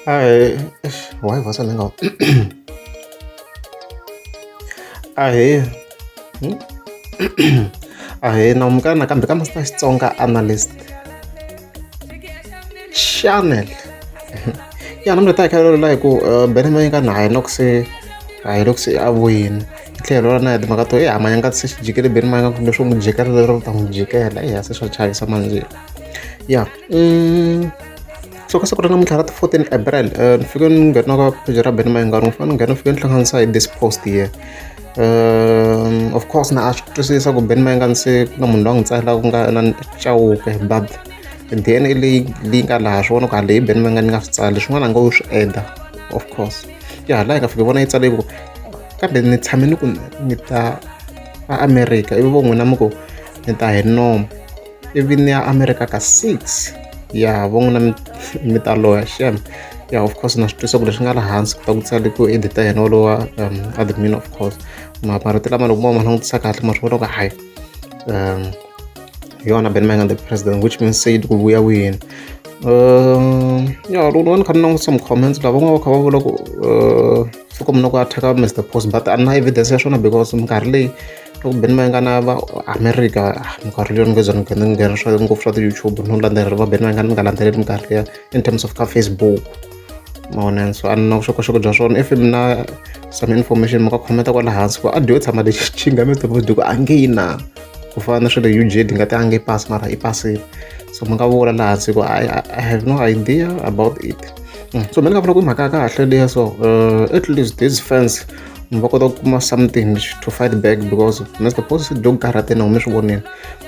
Ahee why va sala nga ahee ahee na amukela nakambe ka Master Xitsonga Analyst Channel ya namuntlha hi ta hi kha hi ololola hi ku Benny Mayinga na hi loko se a hi loko se a vuyini hi tlhela hi ololola na hi timhaka to ya Mayinga se xi jikele Benny Mayinga kumbe swo n'wi jikela lero u ta n'wi jikela eya se swa chavisa manjhe ya. so ka siku ra namuntlha ra ti 14 april eh, ni fike ni nghena ka page ra benima ingari ni fanele ni nghena ni fike ni hlanganisa hi this post here um of course na a swi twisisa ku benima yi nga ni se ku na munhu loyi a n'wi tsakela ku nga na chawuke bab then i leyi leyi nga laha swi vona ku haleyi benima yi nga ni nga swi tsali swin'wana a nga wu swi eda of course ya hala yi nga fike vona yi tsale ku kambe ni tshame ni ku ni ta a america ivi vo n'wina mi ku ni ta hi nomo ivi ni ya America ka six ya vo n'wina mi mi ta loya xem ya of course na swi twisa ku leswi nga laha hansi ku ta ku tsale ku edita yena wolowa um admin of course maparati lama loko mo ma langutisa kahle ma swi vona ku hayi um yona ben mangan the president which means se yi ku vuya wini um ya loko ni va ni kha ni langutisa mi-comments lava n'wana va kha va vula ku uh, fika mina ku attack mr post but a na evidence ya swona because minkarhi leyi loko beni va nga na va America minkarhi leyi ni nga ze ni ni nghena swa ngopfu swa ti-YouTube no landzelela va beni va nga ni nga landzeleli minkarhi liya in terms of ka Facebook ma vona so a ni na vuxokoxoko bya swona if mi na some information mi nga khometa kwala hansi ku a dyo tshama lexi xi nga mi tiva ku a nge yi na ku fana na swa le UJ di nga ti a nge pasi mara i pasile so mi nga vula laha hansi ku I, I have no idea about it mm. so mina ni nga vula ku i mhaka ya kahle leya so uh, at least these fans va kota ku kuma something to fight back because na swi post dog karate na hume swi voneni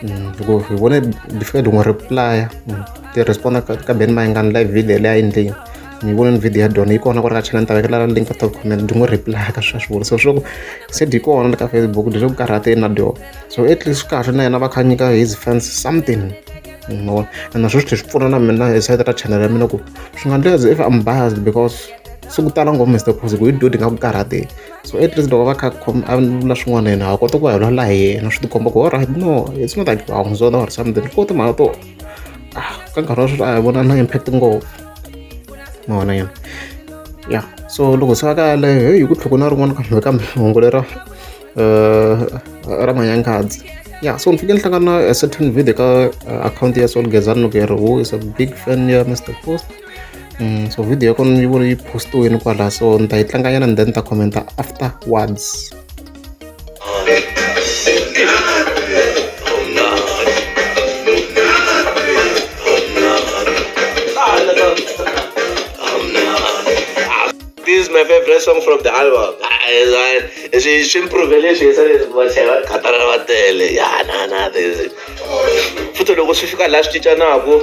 mm, because hi vone before hi n'wi replya mm, ti responda ka ben mayingani live video leyi a endlini ni vone ni video ya dona yi kona ku ri ka channel ni ta vekela link ka top comment ndzi n'wi reply ka swa swivula so swi ku se di kona ka facebook leswaku karhate na dyo so at least swi kahle na yena va kha nyika his fans something mavona and naswo swi tlhe swi pfuna na mina hi side ra channel ya mina ku swi nga ndzi if I'm biased because se ku tala ngopfu Mister Phuzi ku hi dyo ti nga ku karhati so at least loko va kha a vula swin'wana yena ha kota ku va hi lwala hi yena swi tikomba ku alright no it's not like wa n'wi zonda or something ko timhaka to ah ka nkarhi wa sweswi a hi vona na impact ngopfu ma vona yena ya so loko se va ka yaleyo heyi ku tlhoko na rin'wana kambe kambe hungu lera um ra manyangadzi ya so ni fike ni hlangana na certain video ka uh, akhawunti ya solgezani loko yi ri who is a big fan ya mr post so video ya kona yi vona yi postiwini kwala so ni ta yi tlanganyana ni then ni ta commenta afterwards This is my favorite song from the album. She she improved she said what she was katara vatele. Yeah, na na this. Futhi loko swi fika la swi cincanaka